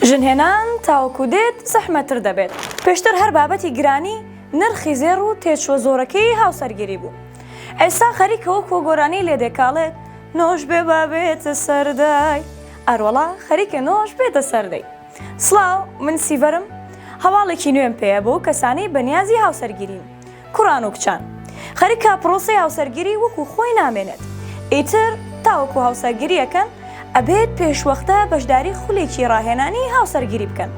ژن هێنان تاوەکو دێت زەحمەتتر دەبێت، پێشتر هەر بابەتی گرانی نرخی زێڕ و تێچووە زۆرەکەی هاوسەرگیری بوو، ئێستا خەریکە وەکووە گۆرانی لێ دێکاڵێت نۆش بێ با بێتە سەر دەی، ئاروەڵا خەریکە نۆش بێتە سەر دەی. سڵاو، من سیڤەرم، هەواڵێکی نوێم پێیە بۆ کەسانەی بەنیازی هاوسەرگیرین. کوڕان و کچان خەریکە پرۆسەی هاوسەرگیری وەکو خۆی نامێنێت ئیتر تاوەکو هاوسەرگیری ئەکەن ئەبێت پێشوەختە بەشداری خولێکی ڕاهێنانی هاوسەرگیری بکەن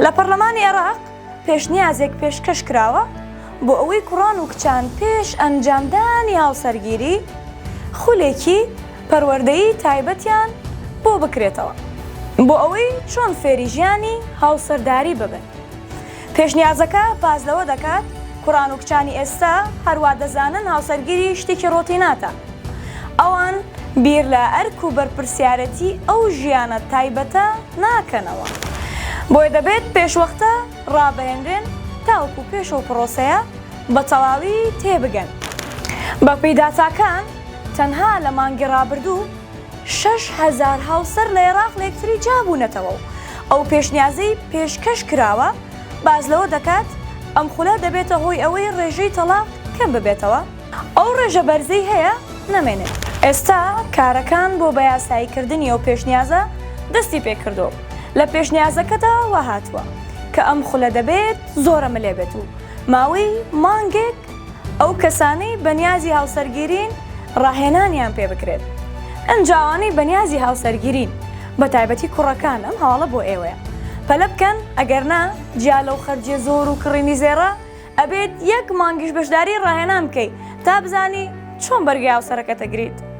لە پەرلەمانی عێراق پێشنیازێک پێشکەش کراوە بۆ ئەوەی کوڕان و کچان پێش ئەنجامدانی هاوسەرگیری خولێکی پەروەردەیی تایبەتیان بۆ بکرێتەوە بۆ ئەوەی چۆن فێری ژیانی هاوسەرداری ببن. پێشنیازەکە باس لەوە دەکات، کوڕان و کچانی ئێستا هەر وا دەزانن هاوسەرگیری شتێکی ڕۆتیناتە. ئەوان بیر لە ئەرک و بەرپرسیارەتیی ئەو ژیانە تایبەتە ناکەنەوە. بۆیە دەبێت پێشوەختە ڕابهێنرێن تاوەکو پێش ئەو پڕۆسەیە بە تەواوی تێبگەن. بەپێی داتاکان، تەنها لە مانگی ڕابردوو، شەش هەزار هاوسەر لە ئێراق لەیەکتری جیابوونەتەوە و ئەو پێشنیازەی پێشکەش کراوە باس لەوە دەکات، ئەم خولە دەبێتە هۆی ئەوەی رێژەی تەڵاق کەم ببێتەوە، ئەو رێژە بەرزەی هەیە نەمێنێت. ئێستا کارەکان بۆ بەیاساییکردنی ئەو پێشنیازە دەستی پێکردووە و لە پێشنیازەکەدا واهاتووە، کە ئەم خولە دەبێت زۆرەملێ بێت و ماوەی مانگێک ئەو کەسانەی بەنیازی هاوسەرگیرین ڕاهێنانیان پێ بکرێت ئەنج ئەوانەی بەنیازی هاوسەرگیرین بەتایبەتی کوڕەکان ئەم هەواڵە بۆ ئێوەیە پەلە بکەن ئەگەر نا جیا لەو خەرجیە زۆر و کڕینی زێڕە ئەبێت یەک مانگیش بەشداری ڕاهێنان بکەیت تا بزانی چۆن بەرگەی هاوسەرەکەت ئەگریت.